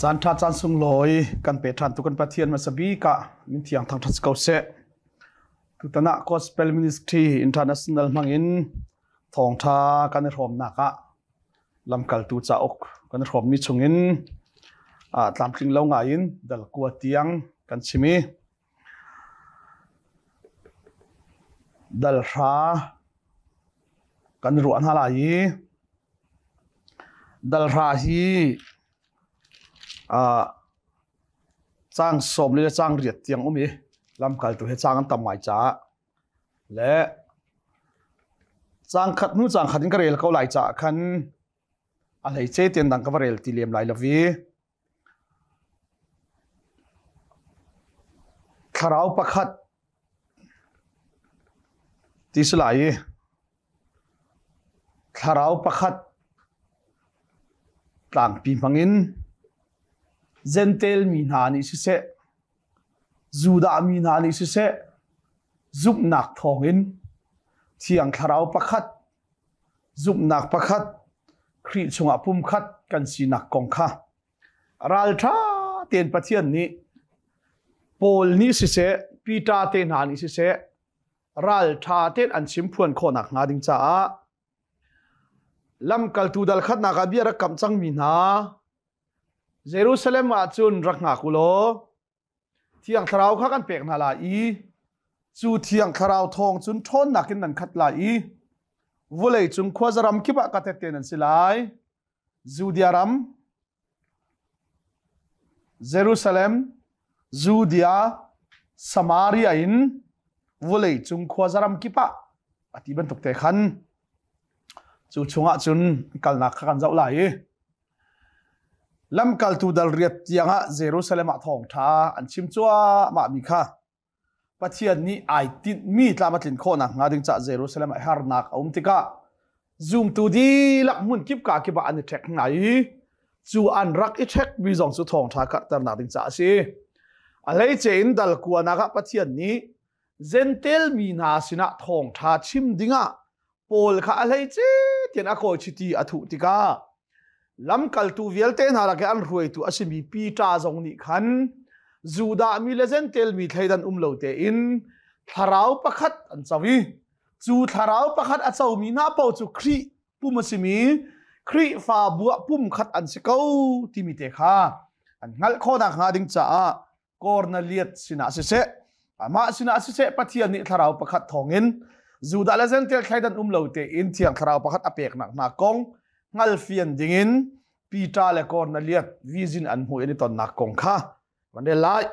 Caan ṭha caan sunglawi kan pe ṭhan tu kan Pathian hmasa bik ah min thiang thang ṭhat ko seh. Tutan ah Gospel Ministry International hmangin thawngṭha kan i hrawmnak ah lamkaltu cauk kan i hrawmmi chungin tlamtling lo ngai in dalkua tiang kan chim i Dalhra kan ruah hna lai i dalhra hi ah caang sawm le caang riat tiang um i lamkaltu he caang an tam ngai caah le caang khat hnu caang khat in ka rel ko lai caah khan a hleice tein dang ka va rel ti lem lai lo i. Thlarau pakhat ti si lai i thlarau pakhat tlangpi hmangin Zentail mi hna nih siseh, Judah mi hna nih siseh, zumhnak thawngin Thiang Thlarau pakhat Zumhnak pakhat, Khrih chungah pumkhat kan sinak kong kha ralṭha tein Pathian nih Paul nih siseh, Peter te hna nih siseh ralṭha tein an chim phuan khawh nakhnga ding caah lamkaltu dal khatnak ah bia rak kamh cangmi hna, Jerusalem ah cun rak hngak u law Thiang Thlarau kha kan pek hna lai i cu Thiang Thlarau thawng cun ṭhawnnak in nan khat lai i vawlei cung khuaza ram kip ah ka tette nan si lai. Judea ram, Jerusalem, Judea, Samaria in vawlei cung khuaza ram kip ah a ti bantuk te khan cu chungah cun kalnak kha kan zoh lai i Lamkaltu dal riat tiangah Jerusalem ah thawngṭha an chim cuahmahmi kha Pathian nih ai tinhmi tlam a tlin khawh nakhnga ding caah Jerusalem ah harnak a um tikah zumtu dihlak hmun kipka kip ah an i ṭhek hna i cu an rak i ṭhekmi zong cu thawngṭha karhternak ding caah a si. A hleice in dal kuanak ah Pathian nih Gentel mi hna sinah thawngṭha chim dingah Paul kha a hleice tian a kawi chiti a thuh tikah lamkaltu vialte hna lak i an hruaitu a simi Peter zong nih khan Judah mi le Gentel mi thleidan um lo tein thlarau pakhat an co i cu thlarau pakhat a comi hna paoh cu Khrih pum a simi Khrihfabu ah pum khat an si ko timi te kha an hngalh khawh nakhnga ding caah kor na liat sinah siseh amah sinah siseh pathian nih thlarau pakhat thawngin Judah le Zentail thleidan um lo te in thiang thlarau pakhat a peknak hna kong ngalfian dingin Peter le kor na liat vizin an hmu in tonnak kong kha van lai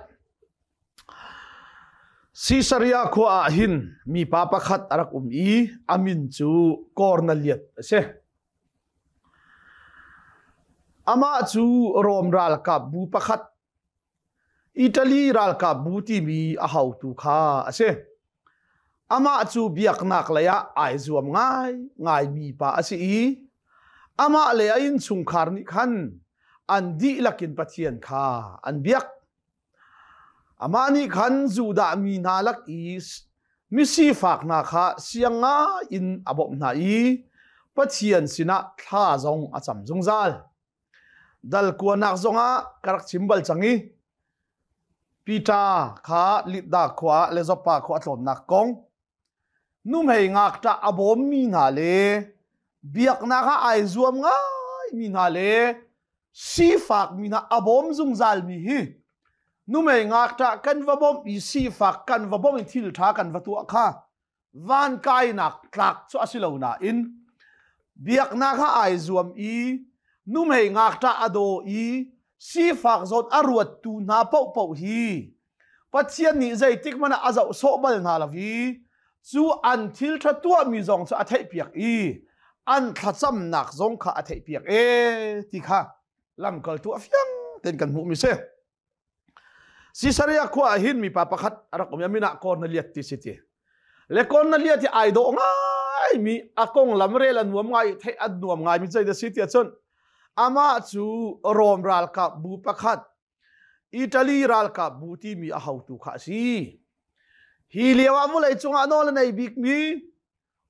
Caesarea khua ah hin mi pa pakhat a rak um i amin cu kor na liat a si amah cu Rom ralkap bu pakhat Italy ralkapbu timi a hotu kha a si. Amah cu biaknak lei ah ai zuam ngai ngaimi pa a si i amah le a innchungkhar nih khan an dihlak in Pathian kha an biak. Amah nih khan Judah mi hna lak i misifak hna kha siangai in a bawmh hna i Pathian sinah thla zong a cam zungzal. Dalkuanak zongah ka rak chim bal cang i Pita kha Lidda khua ah le Joppa khua a tlawnnak kong nuhmei ngakṭah a bawmmi hna le biaknak ah ai zuam ngaimi hna le sifakmi hna a bawm zungzalmi hi numei ngakṭah kan va bawmh i sifak kan va bawmh i thilṭha kan va tuah kha van kainak tlak cu a si lo nain biaknak ha ai zuam i numhei ngakṭa a daw i sifak zawt a ruattu hna paohpaoh hi Pathian nih zeitik mana a zoh sawh bal hna lo i cu an thil ṭha tuahmi zong cu a theihpiak i an thlacamnak zong kha a theihpiak e ti kha lamkaltu a fiang ten kan hmuh mi si. Caesarea khua ah hin mipa pakhat a rak um i min ah kor na liat ti si ti le kor na liat hi ai dawh ngai mi a konglam rel an nuam ngai i theih an nuam ngai mi zei da si ti ahcun amah cu Rome ralkap bu pakhat Italy ralkap bu timi a hotu kha a si hi lio ah vulei cung ah nawl a nei bik mi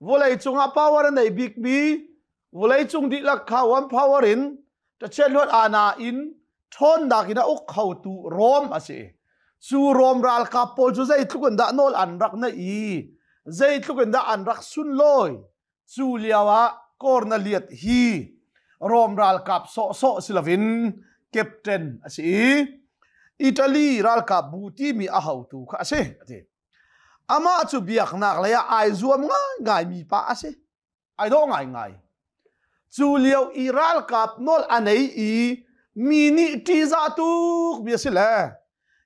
vawleicung ah power a nei bikmi vawleicung dihlak kha one power in ṭachiat luat ana in ṭhawnnak in a uk khotu Rom a si. Cu Rom ralkap pawl cu zeitluk in dah nawl an rak naih i zeitluk in dah an rak sunlawi cu lio ah Cornelius hi Rom ralkap sawhsawh si loin captain a si i Italy ralkap bu timi a hotu kha a si a ti. Amah cu biaknak lei ah ai zuam ngaingaimi pa a si. Ai dawh ngaingai. Cu lio i ralkap nawl a nei i mi nih ṭihzah tuk mi a si le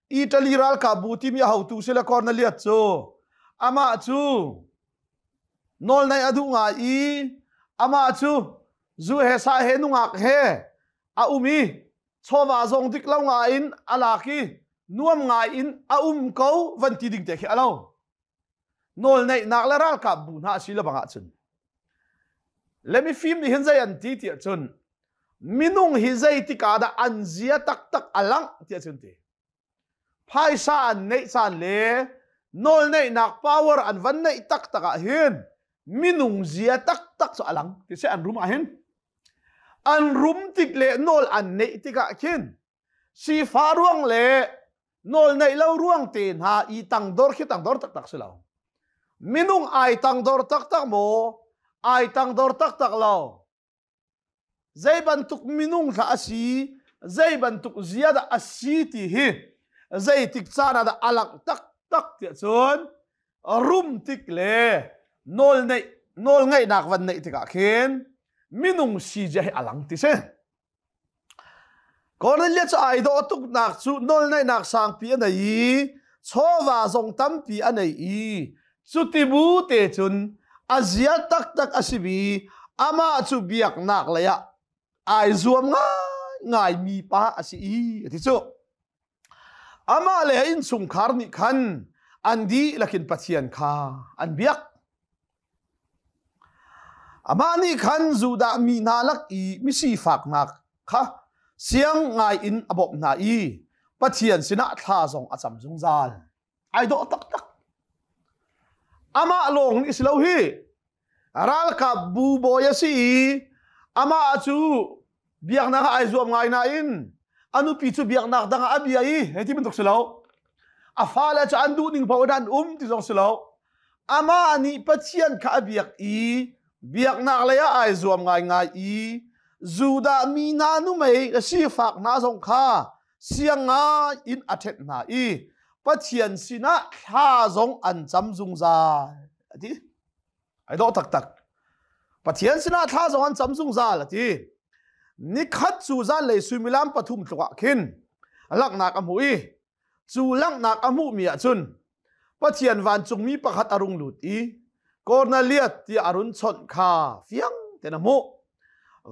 Italy ralkapbu timi a hotu si le Cornelius cu amah cu nawl naih a duh ngai i amah cu zu he sa he nungak he a um i chawva zong dik lo nga in a lak i nuam ngai in a um ko van ti ding te khi a lo nawl neihnak le ralkap bu hna si le bangah cun let me fim nih hin zei an ti ti cun minung hi zei tika dah an zia taktak a lang ti cun ti phaisa an neih caan le nawlneihnak power an van neih taktak ah hin minung zia taktak cu a lang ti seh an rum ah hin an rum tik le nawl an neih tikah khin sifa ruang le nawl neih lo ruang te hna i tangdor khi tangdor taktak si lo minung ai tangdor taktak maw ai tangdor taktak lo Zei bantuk minung hlah a si, zei bantuk zia dah a si ti hi zeitik caan ah dah a langh taktak tiah cun rum tik le nawl neih nawl ngaihnak van neih tikah khin minung si zia hi a lang ti si. Cornelius cu ai dawh tuknak cu nawlngaihnak sangpi a nei i chawva zong tampi a nei i cuti bu te cun a zia taktak a simi amah cu biaknak leiah ai zuam ngaingaimi pa a si i a ti cu. Amah le a innchungkhar nih khan an dihlak in Pathian kha an biak. Amah nih khan Judah mi hna lak i misifaknak kha siang ngai in a bawmh hna i Pathian sinah thla zong a cam zungzal. ai dawh taktak amah lawng nih si lo hi ralkapbu bawi a si i amah cu biaknak ah ai zuam ngai nain a nupi cu biaknak dang ah a bia i hei ti bantuk si lo a fale cu an duh ning paoh in an um ti zong si lo amah nih pathian kha a biak i biaknak lei ah ai zuam ngaingai i Judah mi na nu mei a sifak hna zong kha siangai in a ṭhet hna i Pathian sinah thla zong an cam zungzal a ti. Ai dawh taktak. Pathian sinah thla zong an cam zungzal a ti. Nikhat cu zanlei suimilam pathum tluk ah khin laknak a hmuh i cu langhnak a hmuhmi ah cun Pathian vancungmi pakhat a rung lut i Kornelias tiah a run chawnh kha fiang tein a hmuh.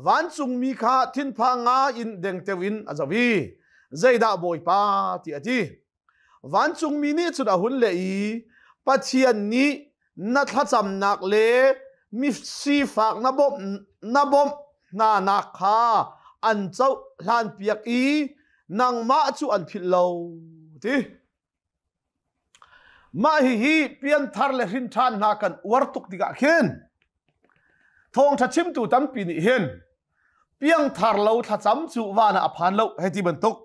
Vancungmi kha thinpha ngai in dengteo in a zoh i, zeidah Bawipa ti a ti. Vancungmi nih cun a hun leh i, Pathian nih na thlacamnak le sifak na bawmh na bawmh hnanak kha an cohlanpiak i nangmah cu an philh lo, a ti. Mah hihi pianthar le hrinṭhan hna kan uar tuk tikah khin thawngṭha chimtu tampi nih hin piangthar lo thlacam cu van ah a phan lo hei ti bantuk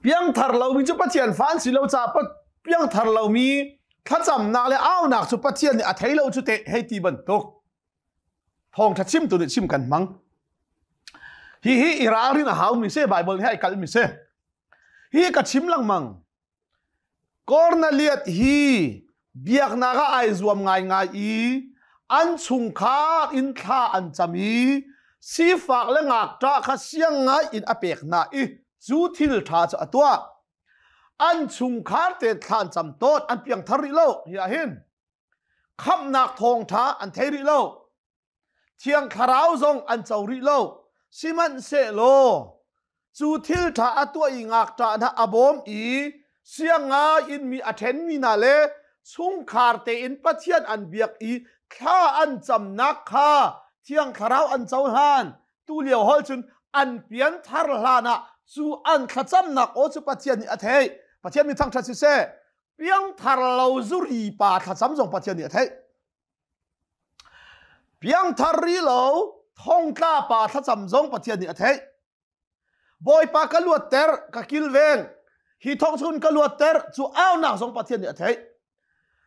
Piangthar lomi cu Pathian fa an si lo caah piangthar lomi thlacamnak le aunak cu Pathian nih a thei lo cu teh hei ti bantuk thawngtha chimtu nih chim kan hmang hihi i ralrin a haumi si Bible hi ai kalhmi si hi ka chim lengmang Korneliath hi biaknak ah ai zuam ngaingai i an chungkhar in thla an cam i sifak le ngakṭah kha siang ngai in a pek hna i cu thil ṭha cu a tuah. An chungkhar te thlan cam tawn an piangthar rih lo hi ah hin khamhnak thawngṭha an thei rih lo. Thiang Thlarau zong an co rih lo. Sihmanhsehlaw cu thil ṭha a tuah i ngakṭah hna a bawm i sianga in mi a ṭhenmi hna le chungkhar tein Pathian an biak i thla an camnak kha Thiang Thlarau an cohlan. Tulio hol cun an pianthar hlan ah cu an thlacamnak aw cu Pathian nih a theih. Pathian mi thangṭhat siseh, piangthar lo zuri pa thlacam zong Pathian nih a theih. Piangthar ri lo thongtla pa thlacam zong Pathian nih a theih. Bawipa ka luat ter ka kilveng hi thong chun ka luat ter cu aunak zong Pathian nih a theih.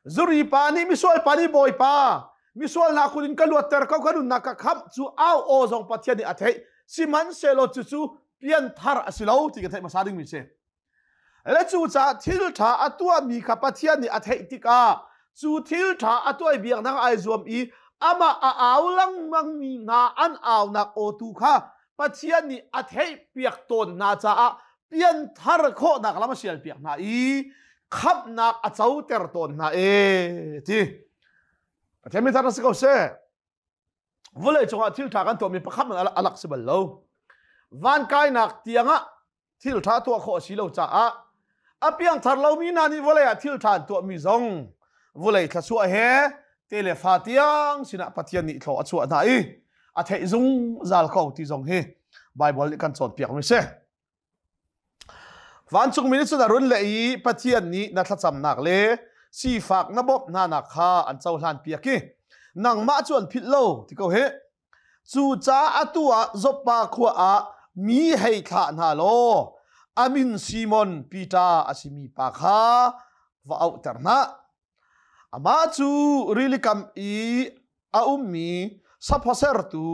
Zuri pa nih misual pa nih bawipa misual hna kun in ka luat ter ko ka nunnak ka kham cu au aw zong Pathian nih a theih. Sihmanhsehlaw cucu pianthar a si lo ti ka theih hmasa dingmi si. Le cucaah thilṭha a tuahmi kha Pathian nih a theih tikah cu thilṭha a tuah biak nak ai zuam i amah a au lengmangmi hna an aunak aw tu kha Pathian nih a theih piak tawn hna caah pianthar khawhnak lam a sial piak hna i khamhnak a coter tawn hna e ti Pathian min thar na si ko seh vawlei cungah thilṭha kan tuahmi pakhat man alak si bal lo van kainak tiangah thil ṭha tuah khawh a si lo caah a piangthar lomi hna nih vawlei ah thil ṭha an tuahmi zong vawlei thlasuah he te le fa tiang sinah Pathian nih thlaw a chuah hna i a theih zungzal ko ti zong hi Baibal nih kan cawnpiakmi a si. Vancungmi nih cun a run leh i Pathian nih na thlacamnak le sifak na bawmh hnanak kha an cohlan piak i nangmah cu an philh lo ti ko hi Cucaah atu ah Zoppa khua ah mi hei thlah hna law a min Simon Peter a simi pa kha va auhter hna. Amah cu rilikam i a ummi saphasertu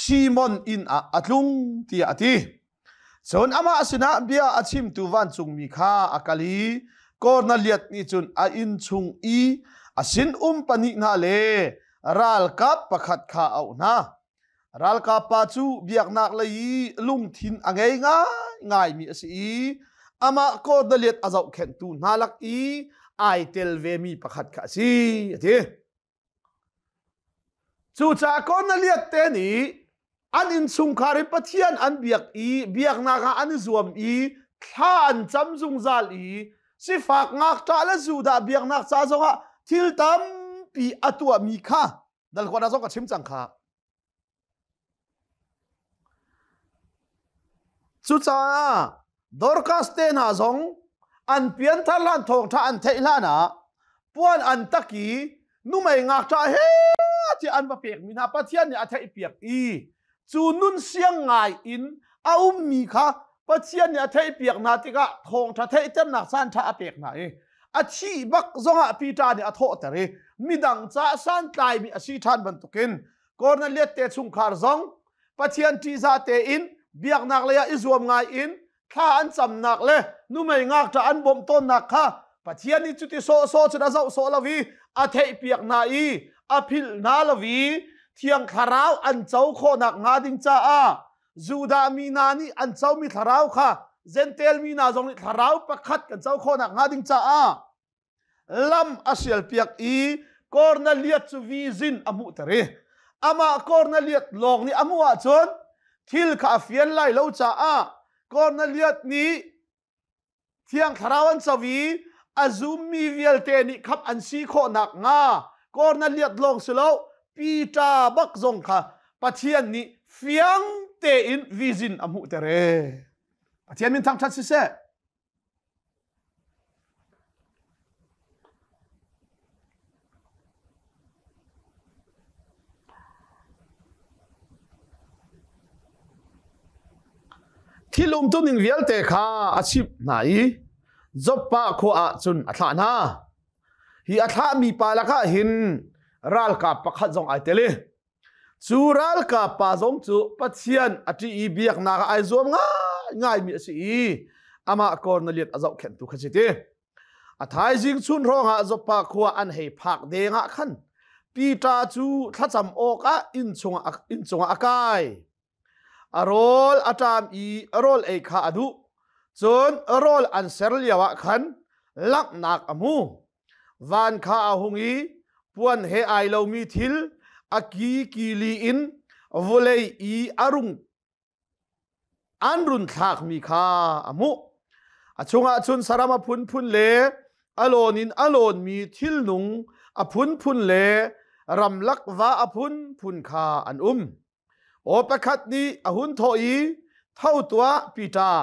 Simon inn ah a tlung tiah a ti. Cun amah sinah bia a chimtu vancungmi kha a kal i Korneliat nih cun a inn chung i a sinum pahnih hna le ralkap pakhat kha a auh hna. Ralkap pa cu biaknak lei i lungthin a ngei ngaingaimi a si i amah Korneliat a zohkhenhtu hna lak i ai tel vemi pakhat kha a si, a ti. Cucaah Kornelias te nih an innchungkhar hi Pathian an biak i biaknak ah an i zuam i thla an cam zungzal i sifak ngakṭah le Judah biaknak ca zongah thil tampi a tuahmi kha Dalhuanah zong ka chim cang kha. Cucaah Dorcas te hna zong an pianthar hlan thawngṭha an theih hlan ah puan an tak i numei ngakṭah he ti an va pekmi hna Pathian nih a theihpiak i cu nun siang ngai in a ummi kha Pathian nih a theihpiak hna tikah thawngṭha theihternak sanṭha a pek hna i a thi bak zongah Peter nih a thawhter i midang ca santlaimi a si ṭhan bantukin Cornelius te chungkhar zong Pathian ṭihza tein biaknak lei ah i zuam ngai in thla an camnak le numei ngakṭah an bawmh tawnnak kha Pathian nih cuti sawhsawh cun a zoh sawh lo i a theihpiak hna i a philh hna lo i thiang thlarau an co khawhnak hnga ding caah Judah mi hna nih an comi thlarau kha Zentail mi hna zong nih thlarau pakhat kan co khawhnak hnga ding caah lam a sialpiak i Kornelias cu vizin a hmuhter i amah Kornelias lawng nih a hmuh ahcun thil kha a fian lai lo caah Kornelias nih Thiang Thlarau an co i a zummi vialte nih khap an si khawh nakhnga Kornelias lawng si lo Peter bak zong kha Pathian nih fiang tein vizin a hmuh ter e. Pathian min thangṭhat si seh. Thil umtuning vialte kha a chimh hna i Joppah khua ah cun a thlah hna. Hi a thlahmi pa lakah hin ralkap pakhat zong ai tel i cu ralkap pa zong cu Pathian a ṭih i biaknak ah ai zuam ngai ngaimi a si i amah kor na lian a zohkhenhtu kha si ti. a thaizing chun hrawngah Zoppa khua an hei phak dengah khan Pita cu thlacam awkah inn chungah inn chungah a kai a rawl a ṭam i rawl ei kha a duh cun rawl an ser lioah khan langhnak a hmu van kha a hung i puan he ai lomi thil a ki kili in vawlei i a rung an run thlakmi kha a hmuh a chungah cun saram a phunphun le a lawn in a lawnmi thilnung a phunphun le ramlak va a phunphun kha an um aw pakhat nih a hun thawh i tho tuah Peter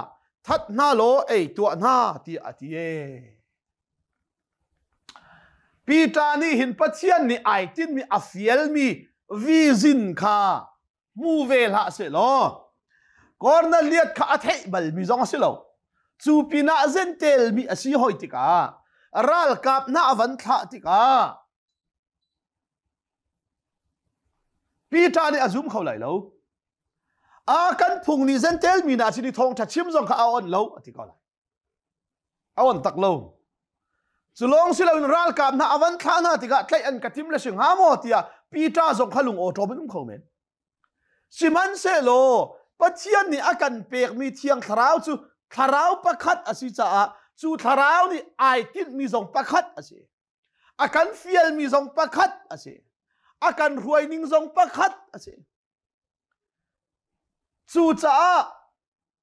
that hna law ei tuah hna tiah a ti Peter nih hin Pathian nih ai tinmi a fialmi vizin kha hmu ve hlah seh law Cornelius kha a theih balmi zong a si lo cu pinah zentelmi a si hoi tikah ralkap hna a van thlah tikah Peter nih a zum kho lai lo a kan phung nih zentel mi na si ni thawngtha chim zong kha a on lo a ti ko lai a on tak lo cu lawng si loin ralkap hna a van thlah hna tikah tlaih an ka tim le si hnga maw tiah Peter zong kha lung awṭawm in um kho men sihmanhsehlaw Pathian nih a kan pekmi thiang thlarau cu thlarau pakhat a si caah cu thlarau nih ai tinhmi zong pakhat a si a kan fialmi zong pakhat a si a kan ruaining zong pakhat a si cucaah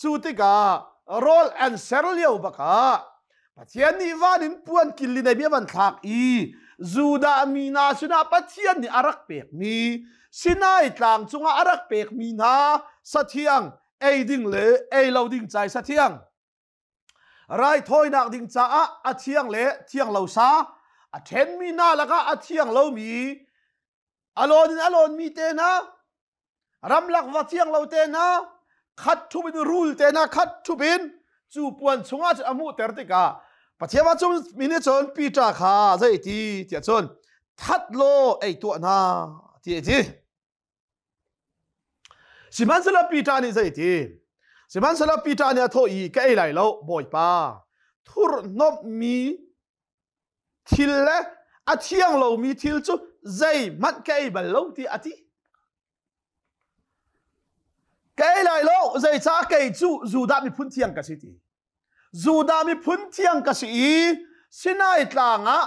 Cu tikah rawl an ser lio bakah Pathian nih van in puan kil in a van thlak i Judah mi hna sinah Pathian nih a rak pekmi Sinai tlang cungah a rak pekmi hna sathiang ei ding le ei lo ding cai sathiang raithawinak ding caah a thiang le thiang lo sa a ṭhenmi hna lakah a thiang lomi a lawn in a lawnmi te hna ramlak va thiang lo te hna khat thup in rul te hna khat thup in cu puan chungah cun a hmuhter tikah Pathian va cung mi nih cun Peter kha zei ti tiah cun that law ei tuah hna ti a ti sihmanhsehlaw Peter nih zei ti sihmanhsehlaw Peter nih a thawh i ka ei lai lo bawipa thurhnomhmi Thil le a thiang lomi thil cu zeihmanh ka ei bal lo tiah a ti. Ka ei lai lo, zeicah kei cu Judah miphun thiang ka si ti. Judah miphun thiang ka si i Sinai tlang ah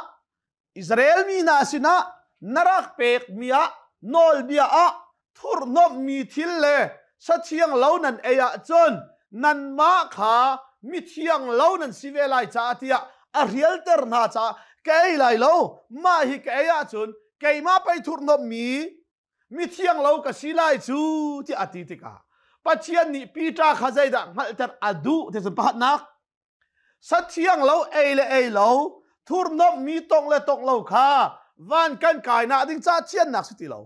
Israel mi hna sinah na rak pekmi ah nawlbia ah thurhnomhmi thil le sathiang lo nan ei ahcun nanmah kha mithiang lo nan si ve lai caah tiah a rialter hna caah ka ei lai lo mah hi ka ei ahcun keimah pei thurhnomhmi mithiang lo ka si lai cu ti a ti tikah Pathian nih Peter kha zeidah hngalhter a duh ti cu pahatnak sathiang lo ei le ei lo thurnomhmi tong le tong lo kha van kan kainak ding cah thiannak si ti lo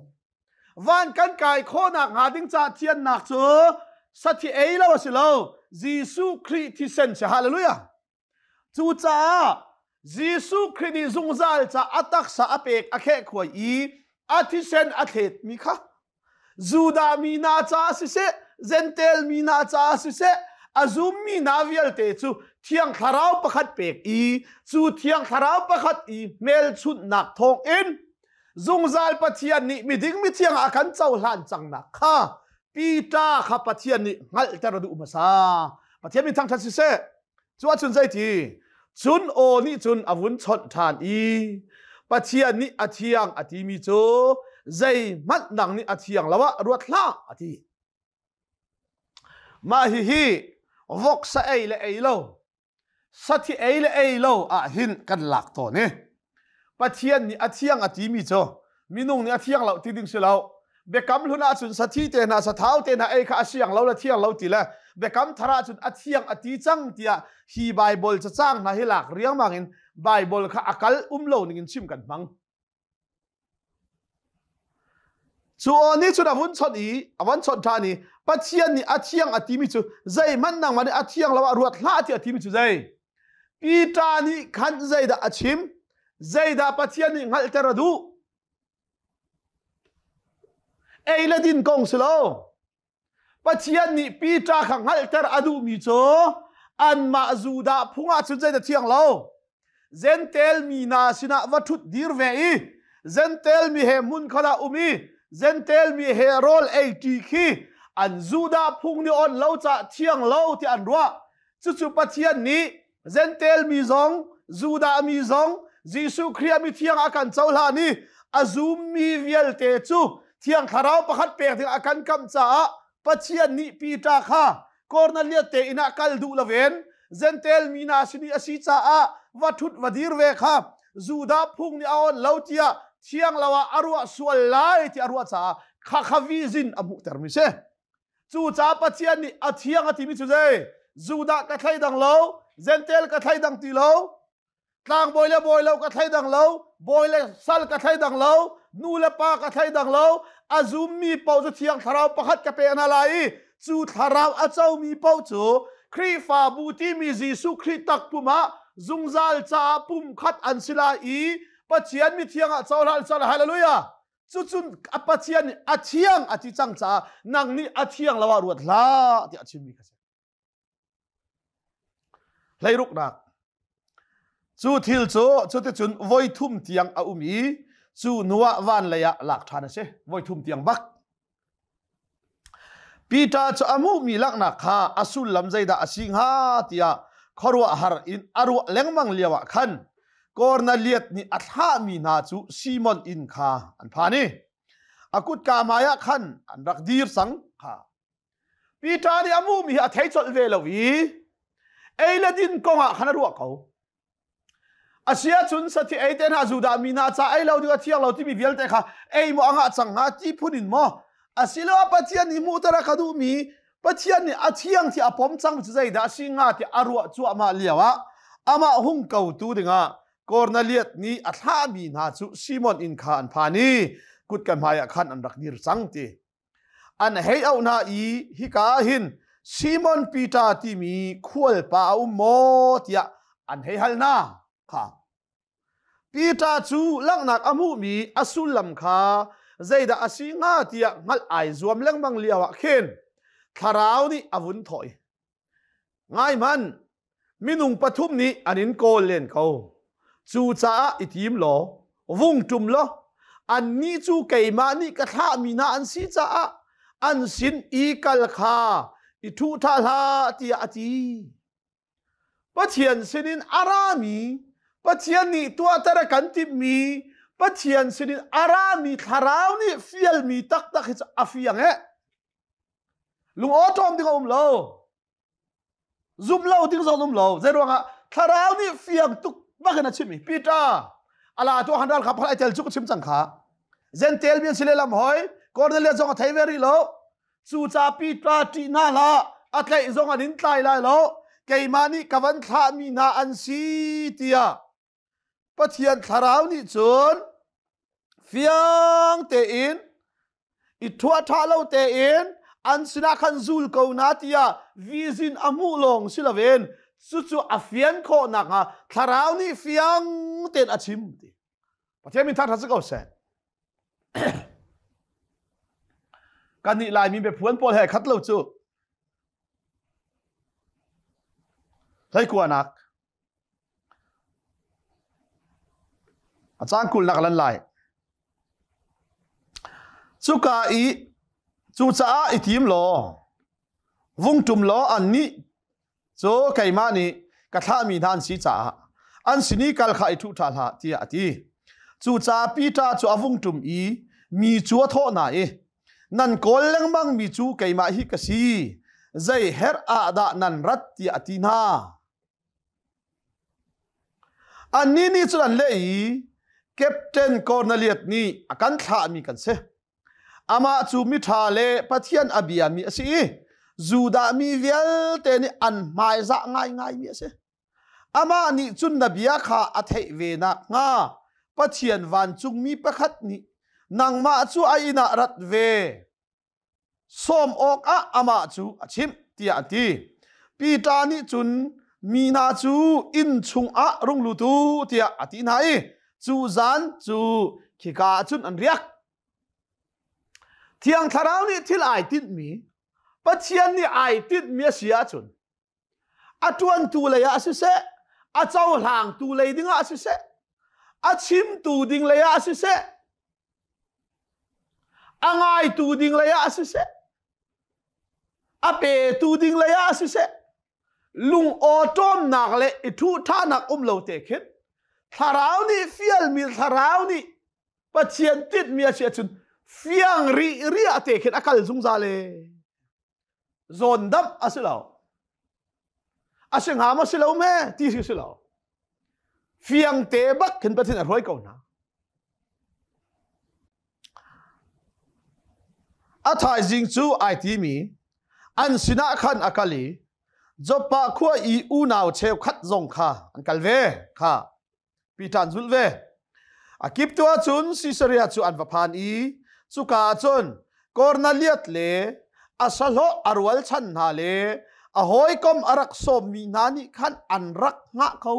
van kan kai khawhnak hnga ding cah thiannak cu sathi ei lo a si lo Jesuh Khrih thisen si hallelujah cucaah Jesuh Khrih nih zungzal ca a taksa a pek a kheh khuai i a thisen a thletmi kha Judah mi hna caah siseh, Zentail mi hna caah siseh, a zummi hna vialte cu Thiang Thlarau pakhat pek i cu Thiang Thlarau pakhat i hmelchunhnak thawngin zungzal Pathian nih miding mithiang ah khan cohlan cangnak kha Peter kha Pathian nih hngalhter a duh hmasa. Pathian min thangṭhat siseh, cu ahcun zei ti cun aw nih cun a vun chawnh ṭhan i Pathian nih a thiang a timi cu zeihmanh nang nih a thiang lo ah ruat hlah a ti mah hihi voksa ei le ei lo sathi ei le ei lo ah hin kan lak tawn i Pathian nih a thiang a timi cu minung nih a thiang lo ti ding si lo biakam hlun ahcun sathi te hna sathau te hna ei kha a siang lo le thiang lo ti le biakam thar ahcun a thiang a ti cang tiah hi bible cacang hna hi lak riangmang in bible kha a kal um lo ning in chim kan hmang Cu aw nih cun a vun chawnh i a van chawnh ṭhan i Pathian nih a thiang a timi cu zeihmanh nangmah nih a thiang lo ah ruat hlah tiah a timi cu zei? Peter nih khan zeidah a chim? Zeidah Pathian nih hngalhter a duh? Ei le din kong si lo. Pathian nih Peter kha hngalhter a duhmi cu anmah Judah phung ah cun zeidah thiang lo Gentel mi hna sinah va ṭhut dir ve i Gentel mi he hmun khat ah um i Gentel mi he rawl ei ṭi khi an Judah phung nih on lo caah thiang lo tiah an ruah cucu Pathian nih Zentail mi zong, Judah mi zong, Jesuh Khrih mi thiang a kan cohlan i a zummi vialte cu thiang thlarau pakhat pek ding a kan kamh caah Pathian nih Peter kha Cornelius te inn ah kal duh loin Zentail mi hna sin i a si caah va thut va dir ve kha Judah phung nih a on lo tiah thiang lo ah a ruah sual lai ti a ruah caah khakhavi zin a hmuhter mi si. Cucaah Pathian nih a thiang a timi cu zei? Judah ka thleidang lo, Gentel ka thleidang ti lo, tlangbawi le bawi lo ka thleidang lo, bawi le sal ka thleidang lo, nu le pa ka thleidang lo, a zummi paoh cu thiang thlarau pakhat ka pe hna lai i cu thlarau a comi paoh cu Khrihfabu timi Jesuh Khrih takpum ah zungzal caah pumkhat an si lai i Pathian mithiang ah cohlan sal haleluia cucun a pathian nih a thiang a ti cang caah nang nih a thiang lo ah ruat hlah tiah a chimmi ka si hleiruknak cu thil cu cuticun voi thum tiang a um i cu hnuah van lei ah lak ṭhan a si voi thum tiang bak Peter cu a hmuhmi laknak kha a sullam zeidah a si hnga tiah khuaruahhar in a ruah lengmang lioah khan Kornelias nih a thlahmi hna cu Simon inn kha an phan i a kutka hmaiah khan an rak dir cang kha. Peter nih a hmuhmi hi a thei colh ve lo i ei le din kongah khan a ruah ko. Asia chun sati ei te hna Judah mi hna cha ei lo ding a thiang lo timi vialte kha ei mo anga chang nga ti phun in mo asilo a pathian nih mu tara ka duh mi pathian nih a thiang thi a pom cang cu zeidah si nga ti a ruah cuah ma liao ah amah hung ko tu dingah Cornelius nih a thlah mi hna cu Simon in kha an phan i kut kan hmai ah khan an rak dir cang ti an hei auh hna i hika ah hin Simon Peter timi khualpa a um maw tiah an hei hal hna kha Peter cu langhnak a hmuhmi a sullam kha zeidah a si hnga tiah hngalh ai zuam lengmang lio ah khin thlarau nih a vun thawh i Ngaihmanh, minung pathum nih an in kawl len ko. Cucaah i tim law, vung ṭum law, annih cu keimah nih ka thlahmi hna an si caah an sin i kal kha i ṭhuṭha hlah tiah a ti. Pathian sinin a rami, Pathian nih tuahter a kan timhmi, Pathian sinin a rami thlarau nih fialmi taktak hi cu a fiang ee. Lungaw ṭawm ding a um lo. Zumh lo ding zong um lo. Zei ruangah thlarau nih fiang tuk bak in a chimmi Peter a la tu han ral kha pakhat tel chu ka chim cang kha. Zentel mi an si le lam hoi Cornelius zong a thei ve rih lo. Cu ca Peter ṭih hna hlah a tlaih zong an in tlai lai lo. Keimah nih ka van thlah mi hna an si tiah Pathian thlarau nih cun fiang tein i thuah ṭha lo tein an sinah khan zul ko na tiah vizin a hmuh lawng si loin cucu a fian khawh nakhnga thlarau nih fiang tein a chim ti Pathian min thangṭhat si ko seh kannih Laimi biaphuan pawl he khat lo cu hleikuanak A caan kulhnak ah lan lai. Cuka i cucaah i tim law vung ṭum law annih cu keimah nih ka thlahmi hna an si caah an sin i kal kha i thuh ṭhan hlah, tiah a ti. Cucaah Peter cu a vung ṭum i mi cu a thawh hna i, Nan kawl lengmangmi cu keimah hi ka si, zei herh ah dah nan rat? tiah a ti hna. Annih nih cun an leh i, Captain Korneliat nih a kan thlahmi kan si. Amah cu miṭha le Pathian a biami a si i Judah mi vialte nih an hmaizah ngaingaimi a si. Amah nih cun na bia kha a theih ve nakhnga Pathian vancungmi pakhat nih nangmah cu a inn ah rat ve. sawm awkah amah cu a chimh tiah a ti. Peter nih cun mi hna cu inn chungah rung lutu tiah a ti hna i cu zan cu khika ah cun an riak. Thiang Thlarau nih thil ai tinhmi Pathian nih ai tinhmi a si ahcun a ṭuantu lei ah siseh a cohlangtu lei ding ah siseh a chimtu ding lei ah siseh a ngaitu ding lei ah siseh a petu ding lei ah siseh lungawṭawmnak le i ṭhuhṭhanak um lo te khin thlarau nih fialmi thlarau nih pathian tinhmi a si ahcun fiang rih rih ah te khin a kal zungzal e zawn damh a si lo a si ngam a si lo me ti si si lo fiang te bak khin pathin a roi ko na a thaizing cu ai ti mi an sinah khan akali joppa khua i unau cheu khat zong kha an kal ve kha Peter an zulh ve. A kip tu ahcun Caesarea cu an va phan i cuka ahcun Cornelius le a sahlawh a rual chan hna le a hawikom a rak sawmmi hna nih khan an rak hngah ko.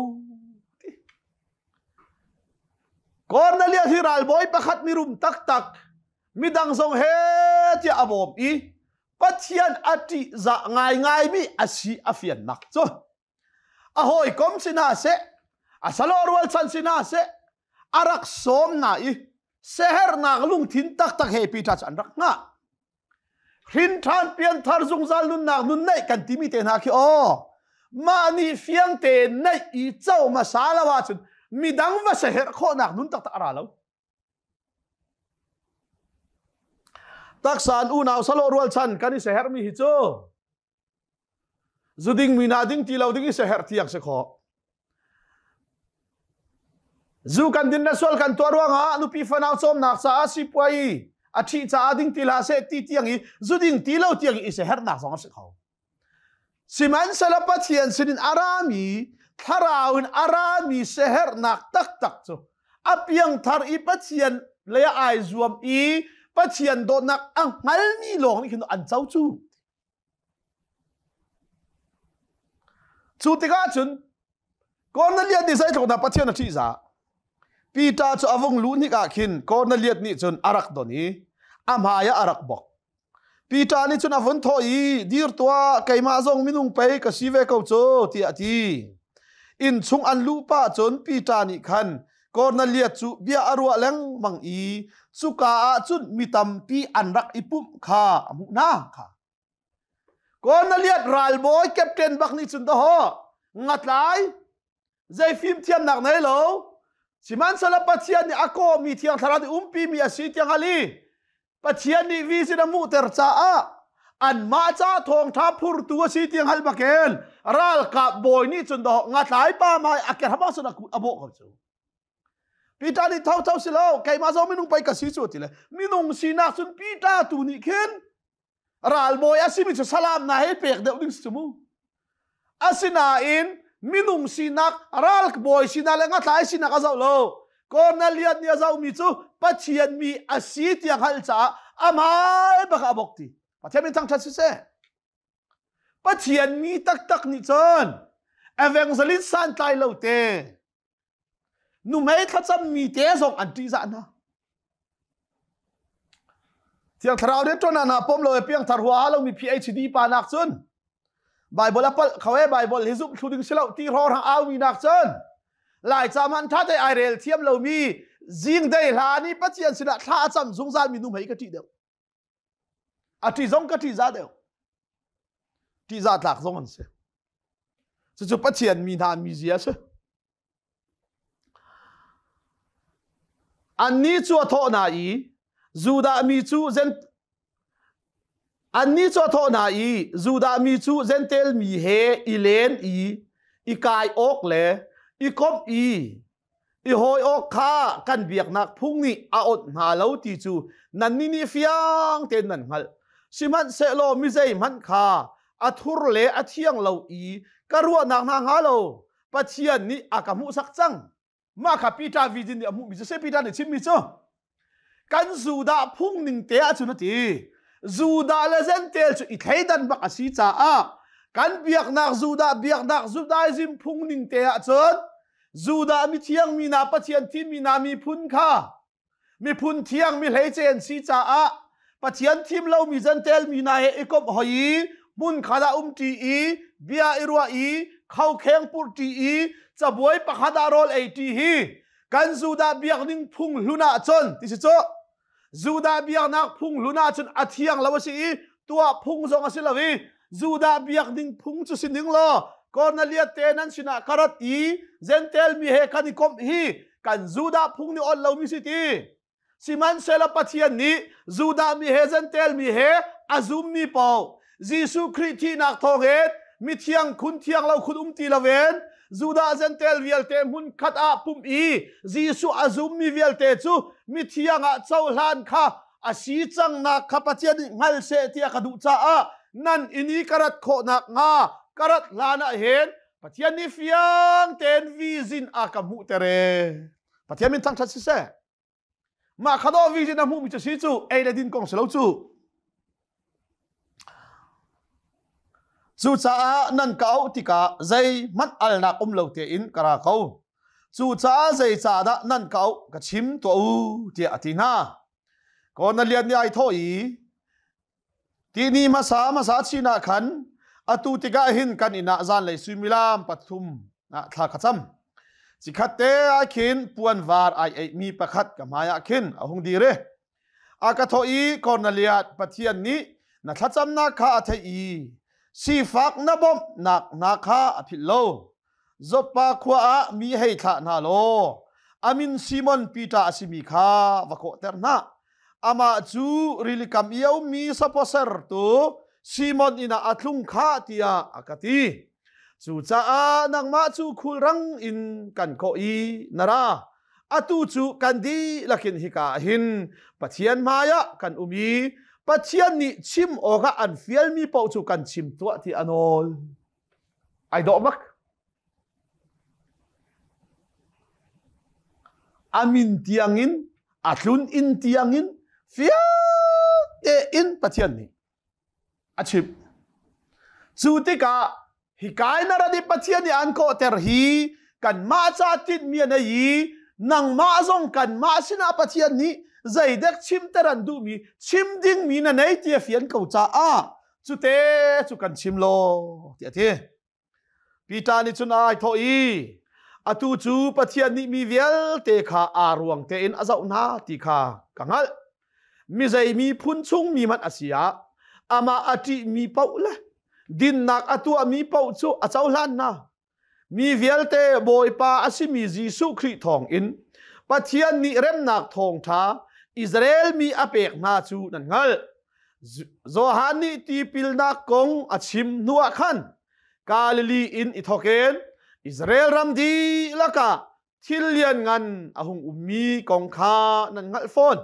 Cornelius hi ralbawi pakhat mirum taktak midang zong he tiah a bawm i Pathian a ṭih za ngaingaimi a si a fiannak cu a hawikom sinah seh a salo rualchan sinah seh a rak sawm na i sehernak lungthin taktak he pita cu an rak nga hrinṭhan pianthar zungzal nunnak nun neih kan timi te hna khi aw mah nih fiang te neih i co hmasa lo ahcun midang va seher khawhnak nun taktak a ra lo taksan unau salo rualchan kan i sehermi hi cu Zuding mi nah ding ti lo ding i siaherh tiang si khawh. Zu kan din le sual kan tuah ruangah nupi fanau cawmnak caah sipuai a ṭhi caah ding ti la se ti tiang i zuding ti lo tiang i siaherhnak zong a si kho. Sihmanhsehlaw Pathian sinin a rami thlarau in a rami siaherhnak taktak cu a piangthar i Pathian le ai zuam i Pathian dawtnak a hngalmi lawng nih khin an co cu. Cu tikah cun Kornelias nih zei tluk dah Pathian a ṭihzah? Peter cu a vung luh hnik ah khin Kornelias nih cun a rak don i a hmai ah a rak bok. Peter nih cun a vun thawh i, dir tuah, keimah zong minung pei ka si ve ko cu, tiah a ti. Innchung an luh pah cun Peter nih khan Cornelia cu bia a ruah lengmang i cuka ah cun mi tampi an rak i pumh kha a hmuh hna kha. Cornelius ralbawi captain bak nih cun daho ngatlai zei fim thiamnak nei lo sihmanhsehla Pathian nih a kawhmi thiang thlarau i umpi mi a si tiang hal i Pathian nih visin a hmuhter caah anmah ca thawngṭha phurtu a si tiang hal bakin ralkap bawi nih cun doh ngathlai pa mai a kerhama cun a bawh ko cu Peter nih tho tho si lo keimah zong minung pei ka si cu ti le minung sinak cun Peter tu nih khin ralbawi a simi cu salam na he pek deuh ding si mu Asinain minung sinak ralbawi sinak le ngathlai sinak a zoh lo Cornelius nih a zohmi cu Pathian mi a si tiang hal caah a hmai bak a bok ti Pathian min thangṭhat siseh Pathian mi taktak nih cun evangelist santlai lo te Nuhmei thlacammi te zong an ṭihzah hna. Thiang Thlarau nih ṭuan hna pom lo e piangthar hua lo mi PhD pa nak cun Bible a palh kho e Bible hi zumh thlu ding si lo ti ror ha au mi nak cun lai ca man ṭha te ai rel thiam lo mi jing dei hla ni Pathian sinah thla a cam zungzal mi nuhmei ka ṭih deuh. A ṭih zong ka ṭihzah deuh. Ṭihzah tlak zong an si. Cucu Pathian mi hna mizia a si. Annih cu a thawh hna i, Judah mi cu annih cu a thawh hna i, Judah mi cu Zentail mi he i len i i kai awk le i komh i i hawi awk kha kan biaknak phung nih a awnh hna lo ti cu nannih nih fiang tein nan hngalh sihmanhsehlaw mi zeihmanh kha a thur le a thiang lo i ka ruahnak hna hnga lo Pathian nih a ka hmuhsak cang mah kha Peter vi nih a hmuhmi cu si Peter nih chimmi cu kan Judah phung ning te ahcun a ti Judah le Zentail cu i thleidan bak a si caah kan biaknak Judah biaknak Judaism phung ning te ahcun Judah mithiang mi na Pathian thi mi na miphun kha miphun thiang mi hleice an si caah Pathian thim lo mi Zentail mi na he ikomh hoi i hmun khada um ṭi i bia i ruah i khokheng purh ṭi i cabuai pakhat ah rawl ei ṭi hi kan Judah biakning phunghlun ah cun ti si cu Judah biaknak phunghlun ah cun a thiang lo a si i tuah phung zong a si lo i Judah biakning phung cu si ning law Cornelius te nan sinah ka rat i Gentel mi he kan i komh hi kan Judah phung nih awt lomi si ti Sihmanhsehlaw Pathian nih Judah mi he Zentail mi he a zummi paoh Jesuh Khrih thihnak thawngin mithiang khun thiang lo khun um ti loin Judah Zentail vialte hmun khat ah pumh i Jesuh a zummi vialte cu mithiang ah cohlan kha a si cangnak kha Pathian nih hngal seh ti a ka duh caah nan in i ka rat khawh nakhnga ka rat hlanah hin Pathian nih fiang tein vizin a ka hmuhter ee. Pathian min thangthat siseh. Mah kha dawh vi na hmuhmi cu si cu ei le din kong si lo cu. Cucaah nan ka auh tikah zei hmanh alnak um lo tein ka ra ko. Cucaah zeicah dah nan ka auh ka chim tuah u tiah a ti hna. Ko na lian ni ai thaw i Tihni hmasa hmasa chinah khan atu tikah hin kan inah zanlei suimilam pathum ah thla ka cam. Cikhat te ah khin puan var ai eihmi pakhat ka hmaiah khin a hung dir e. A ka thawh i Corneliat Pathian nih na thlacamnak kha a theih i sifak na bawmh nak hna kha a philh lo. Zoppa khua ah mi hei thlah hna law a min Simon Peter a simi kha va kawhter hna. Amah cu rilikam i a ummi saposer tu Simon inn ah a tlung kha tiah a ka ti. Cucaah nangmah cu khulrang in kan kawh i na ra. Atu cu kan dihlak in hika ah hin Pathian hmaiah kan um i Pathian nih chim awkah an fialmi paoh cu kan chim tuah ti a nawl. Ai dawh bak. A min tiangin, a tlun inn tiangin fiang tein Pathian nih a chimh. Cu tikah hi kai na radip Pathian nih an kawhter hi kanmah ca tinhmi a nei i nangmah zong kanmah sinah Pathian nih zeidek chimter an duhmi chim dingmi na nei ti a fian ko caah cute cu kan chim lo ti a ti Peter nih cun ai thawh i atu cu Pathian nih mi vialte kha aa ruang tein a zoh hna ti kha ka hngalh mi zei miphun chung mi man a si ah amah a ṭih mi paoh le dinnak a tuah mi paoh cu a cohlan hna Mi vialte Bawipa a simi Jesuh Khrih thawngin Pathian nih remnak thawngṭha Israel mi a pek hna cu nan hngalh. Johan nih tipilnak kong a chim hnuah khan Galilee in i thawk in Israel ram dihlak ah thil lian ngan a hung ummi kong kha nan hngalh fawn.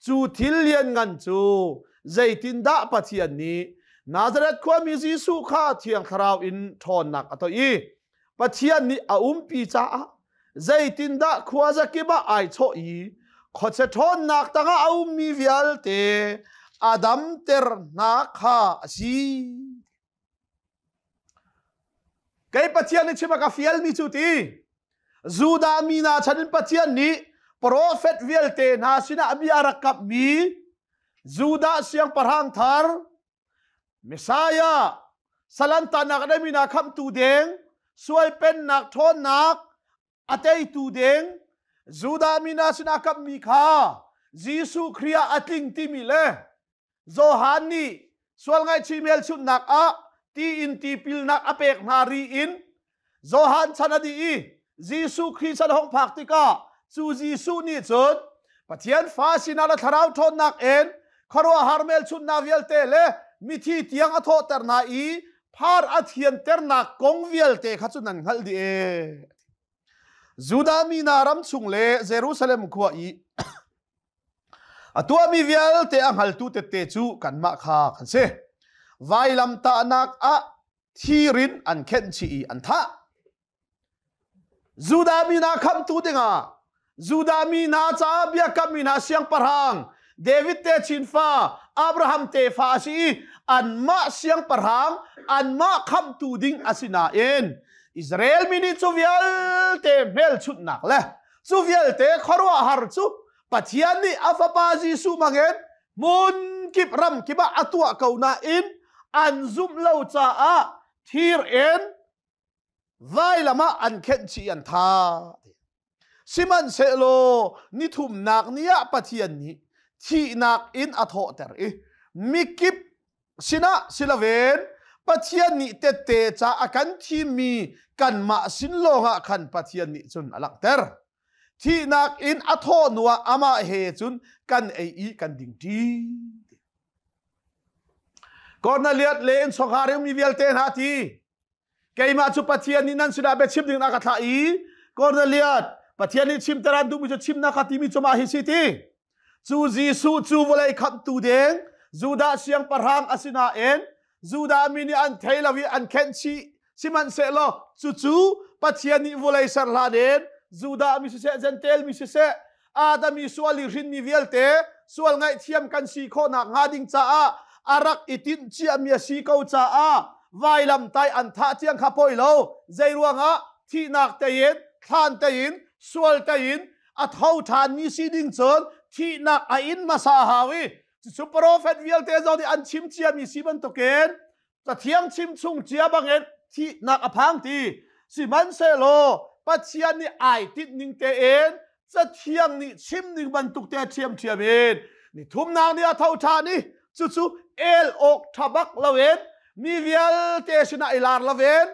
Cu thil lian ngan cu zeitindah Pathian nih Nazareth khuami Jesuh kha thiang thlarau in ṭhawnnak a toih i Pathian nih a umpi caah zeitindah khua zakip ah ai chawh i khotse ṭhawnnak tangah a ummi vialte a damter hna kha a si. Kei Pathian nih chim a ka fialmi cu ti Judah mi hna chan in Pathian nih profet vialte hna sinah mi a rak kapmi Judah siangpahrang thar Messiah salantanak a ngeimi hna khamhtu deng sual pennak ṭhawnnak a teitu ding Judah mi hna sinah kamhmi kha Jesuh Khrih ah a tling timi le Johan nih sual ngaihchih hmelchunhnak ah tiin tipilnak a pek hna ri in Johan chan a dih i Jesuh Khrih chan hong phak tikah cu Jesuh nih cun Pathian fa sinah le thlarau ṭhawnnak in khuaruahhar hmelchunhnak vialte le mithi tiang a thawhter hna i phar a thianternak kong vialte kha cu nan hngalh dih ee. Judah mi hna ram chung le Jerusalem khua i a tuahmi vialte a hngaltu tette cu kanmah kha kan si. Vailamtahnak ah thirin an khenh chih i an thah. Judah mi hna khamhtu dingah Judah mi hna caah biakam mi hna siangpahrang David te chinfa Abraham tefa a si i anmah siangpahrang anmah khamtu ding a si nain Israel mi nih cu vialte hmelchunhnak le cu vialte khuaruahhar cu Pathian nih a fapa Jesuh hmangin hmun kip ram kip ah a tuah ko nain an zumh lo caah thir in vailam ah an khenh chih an tha sihmanhsehlaw nithumnak ni ah pathian nih thihnak in a thawhter i mikip sinah siloven pathian nih tette ca a kan thimmi kanmah sin lawngah khan pathian nih cun a langhter thihnak in a thawh nuah amah he cun kan ei i kan ding ṭi Cornelius le in chungkhar mi vialte hna ti keimah cu pathian nih nan sinah biachim ding na ka thlah i Cornelius pathian nih chimter an duhmi cu chimnak ka timi cu mah hi si ti cu Jesuh cu vawlei khamtu deng Judah siangpahrang a sinain Judah mi nih an thei lo i an khenh chih sihmanhsehlaw cucu pathian nih vawlei ser hlan in Judah mi siseh Gentel mi siseh Adam i sual i hrinmi vialte sual ngaihthiam kan si khawh nak hnga ding caah a rak i tinh ciami a si ko caah vailam tai an thah tiang kha poi lo zei ruangah thihnak tein thlan tein sual tein a tho ṭhan ni si ding cun thihnak a in hmasa hau i cucu profet vialte zong nih an chim ciami si bantukin cathiang chimchung cia bangin thihnak a phang ti sihmanhsehlaw pathian nih ai tinh ning tein cathiang nih chim ning bantuk te ṭhiamṭhiam in ni thumnak ni a tho ṭha ni cucu el awk ṭha bak loin mi vialte sinah i lar loin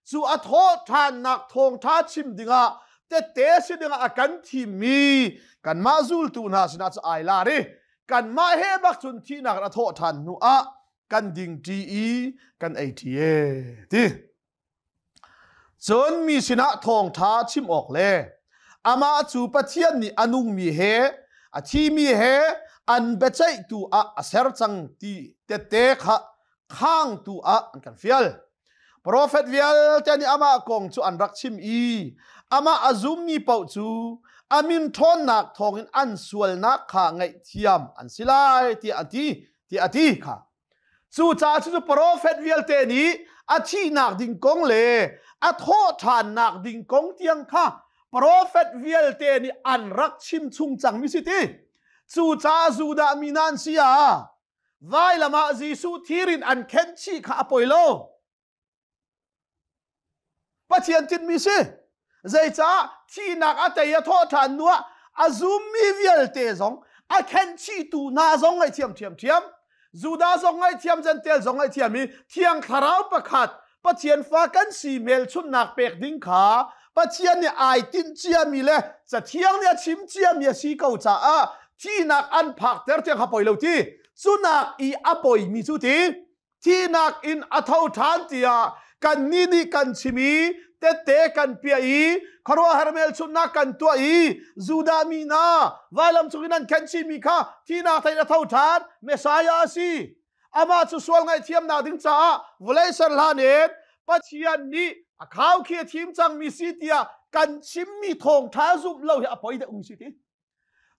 cu a thawh ṭhannak thawngṭha chim dingah tette si dingah a kan thimmi kanmah zultu hna sinah cu ai lar i kanmah he bak cun thihnak a thawh ṭhan hnu ah kan ding ṭi i kan ei ṭi e ti cun mi sinah thawngṭha chim awk le amah cu Pathian nih a nungmi he a thimi he an biaceihtu ah a ser cang ti tette kha khangtu ah an kan fial profet vialte nih amah kong cu an rak chim i amah a zummi paoh cu a min ṭhawnnak thawngin an sualnak kha ngaihthiam an si lai tiah a ti tiah a ti kha cucaah cucu profet vialte nih a thihnak ding kong le a thawhthannak ding kong tiang kha profet vialte nih an rak chim chung cangmi si ti cucaah Judah mi nan si ah vailam ah Jesuh thirin an khenchih kha a poi lo Pathian tinhmi si. Zeicah thihnak a tei a thawh ṭhan nu ah a zummi vialte zong a khenhchihtu hna zong ngaihthiam ṭhiamṭhiam. Judah zong ngaihthiam, Jentail zong ngaihthiam i thiang thlarau pakhat Pathian fa kan si hmelchunhnak pek ding kha Pathian nih ai tinh ciami le cathiang nih a chim ciami a si ko caah thihnak an phak ter tiang ha poi lo ti. Cunak i a poimi cu ti thihnak in a tho ṭhan tiah kannih nih kan chim i tette kan piah i khuaruahhar hmelchunhnak kan tuah i Judah mi hna vailam chungin an khen chihmi kha thihnak thein a tho ṭhan Messiah a si amah cu sual ngaihthiamnak ding caah vawlei ser hlanen Pathian nih a khau khi a thim cangmi si tiah kan chimmi thawngṭha zumh lo hi a poi deuh ung si ti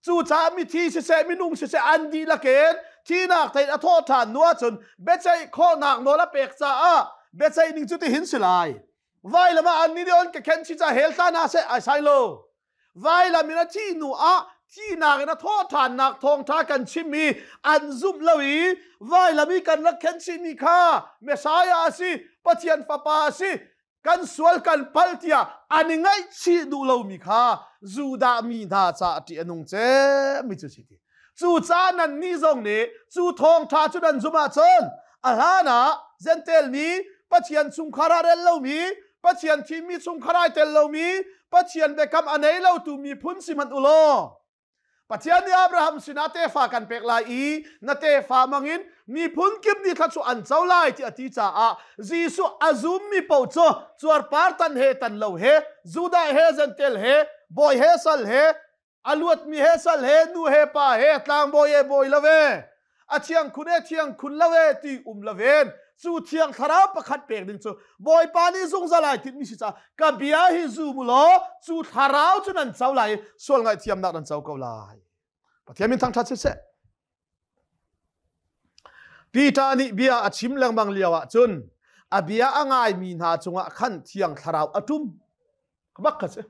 Cucaah mithi siseh minung siseh an dihlak in thinak thein a thawh ṭhan hnu ahcun biaceih khawhnak nawl a pek caah biaceih ning cu tihin si lai. Vailam ah an ni on ka khen si ca hel hlan ah seh ai sai lo. Vailam in a thih hnu ah thihnak in a thawh ṭhannak thawngṭha kan chim i an zumh lo i vailam i kan rak khen chihmi kha Messiah a si, Pathian Fapa a si, kan sual kan pal tiah an i ngaihchih duh lomi kha Judah mi hna caah ṭih a nung cemmi cu si ti. Cucaah nannih zong nih cu thawngṭha cu nan zumh ahcun a hlan ah Zentail mi, Pathian chungkhar ah rel lomi, Pathian thimmi chungkhar ai tel lomi, Pathian biakam a nei lotu miphun si hmanh u law Pathian nih Abraham sinah tefa kan pek lai i na tefa mangin miphun kip nih thla cu an co lai ti a ti caah Jesuh a zummi paoh cu cuarpar tan he tan lo he Judah he Gentel he bawi he sal he a luatmi he sal he nu he pa he tlangbawi he bawi lo he a thiang khun e thiang khun lo e ti um lo ven cu thiang thlarau pakhat pek ding cu bawipa nih zungzal ai tin mi si ca ka bia hi zu mu law cu thlarau cu nan cho lai sual ngaihthiam nak nan cho ko lai pathian min thangthat si se Peter nih bia a chim lengmang lio ah cun a bia a ngai mi hna cungah khan thiang thlarau a tum bak ka si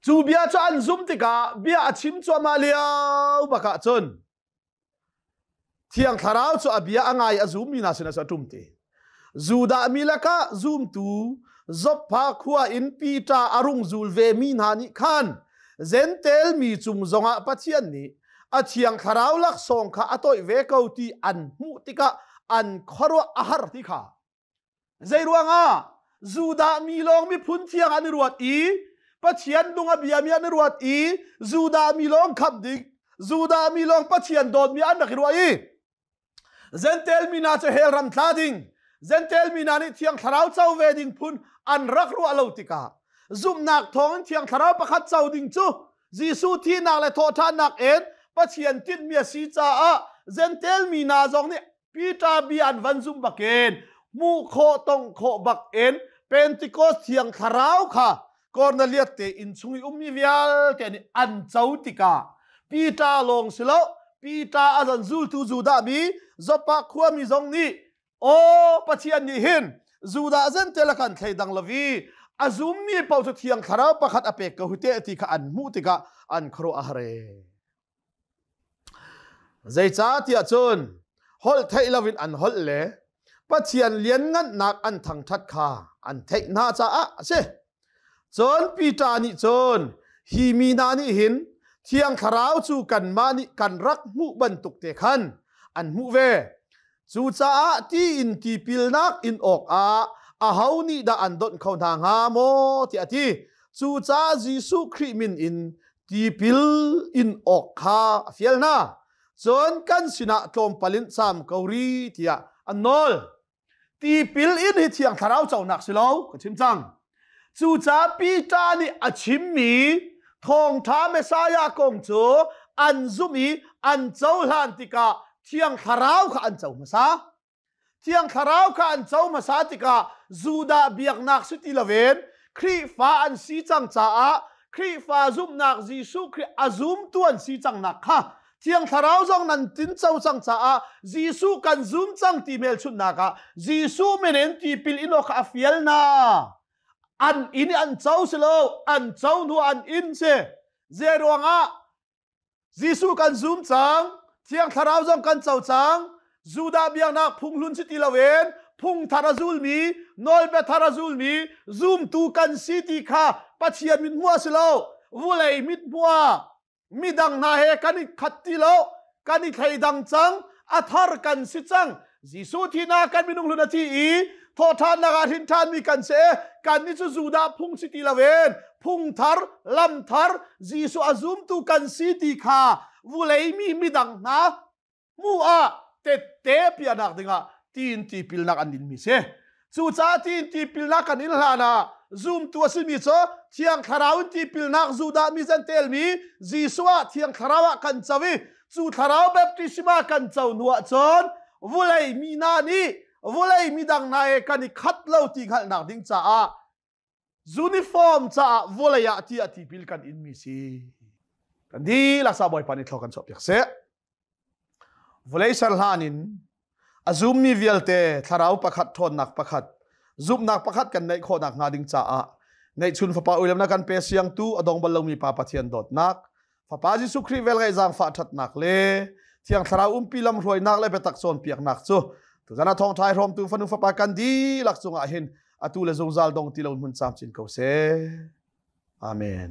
cu bia cu an zum tikah bia a chim cuahmah lio bakah cun Thiang Thlarau cu a bia a ngai a zummi hna sinah a ṭum te. Judah mi lakah zumtu Zopha khua in Pita a rung zul vemi hna nih khan Zentail mi cung zongah Pathian nih a Thiang Thlarau laksawng kha a toih ve ko ti an hmuh tikah an khuaruah a har ti kha Zeiruangah? Judah mi lawng miphun thiang an i ruat i Pathian dung a biami an i ruat i Judah mi lawng khamh ding, Judah mi lawng Pathian dawtmi an rak i ruah i Zentail mi hna cu hell ram tla ding, Zentail mi hna nih Thiang Thlarau co ve ding phun an rak ruah lo tikah zumhnak thawngin Thiang Thlarau pakhat co ding cu Jesuh thihnak le thawhṭhannak in Pathian tinhmi a si caah Zentail mi hna zong nih Peter bi an van zumh bakin hmuh khawh tong khawh bakin Pentecost thiang thlarau kha Cornelius te inn chung i ummi vialte nih an co tikah Peter lawng si lo Peter a zan zultu Judah mi Zoppa khuami zong nih aw Pathian nih hin Judah zentela kan thleidang lo i a zummi paoh cu thiang thlarau pakhat a pek ko hite ti kha an hmuh tikah an khuaruah a har ee. Zeicahtiah cun holh theih loin an holh le Pathian lianngannak an thangṭhat kha an theih hna caah a si. Cun Peter nih cun hi mi hna nih hin Thiang Thlarau cu kanmah nih kan rak hmuh bantuk te khan an hmuh ve. Cucaah tiin tipilnak in awkah aho nih dah an donh kho hna hnga maw tiah a ti. Cucaah Jesuh Khrih min in tipil in awk kha a fial hna. Cun kan sinah tlawmpal in sam ko ri tiah an nawl. Tipil in hi thiang thlarau conak si lo ka chim cang. Cucaah Peter nih a chimmi thawngṭha Messiah kong cu an zumh i an cohlan tikah Thiang Thlarau kha an co hmasa. Thiang Thlarau kha an co hmasa tikah Judah biaknak si ti loin Khrihfa an si cang caah Khrihfa zumhnak Jesuh Khrih a zumtu an si cangnak kha Thiang Thlarau zong nan tinco cang caah Jesuh kan zum cang ti melchunhnak ah Jesuh menen tipil in awk a fial na an in an co si lo an co hnu an in si ze ruangah Jesuh kan zum cang Thiang Thlarau zong kan co cang Judah biaknak phunghlun si ti loin phung thar a zulmi nawlbia thar a zulmi zumtu kan si ti kha Pathian mit hmuh a si lo vulei mit hmuh midang hna he kan i khat ti lo kan i thleidang cang a thar kan si cang Jesuh thihnak kan minung hlun a thi i thawhthannak ah hrin ṭhanmi kan se kan ni cu Judah phung si ti loin phung thar lam thar Jesuh a zumtu kan si ti kha vulei mi midang hna mu ah tette piahnak dingah tiin tipilnak an inmi si cucaah tiin tipilnak kan in hlan ah zumtu a simi cu thiang thlarau in tipilnak zudah mi zan telmi Jesuh ah thiang thlarau ah kan co i cu thlarau baptisma kan co hnu ah cun vulei mi na nih vulei mi dang na he kan i khat lo ti hngalhnak ding caah Uniform caah vawlei ah ti a tipil kan inmi si. Kan dihlak sa bawipa nih thlo kan chuah piak seh. Vawlei ser hlan in a zummi vialte thlarau pakhat ṭhawnnak pakhat zumhnak pakhat kan neih khawhnak hnga ding caah neihchun fapa uilemnak kan pe siang tu a dong bal lomi pa Pathian dawtnak fapa jesuh khrih vel ngaih zaangfah thatnak le thiang thlarau umpi lam hruainak le biatak cawnpiaknak cu tuzan a thong thai hrawmtu fanu fapa kan di lak cungah hin atu le zungzal dong ti lo hmun cam chin ko se amen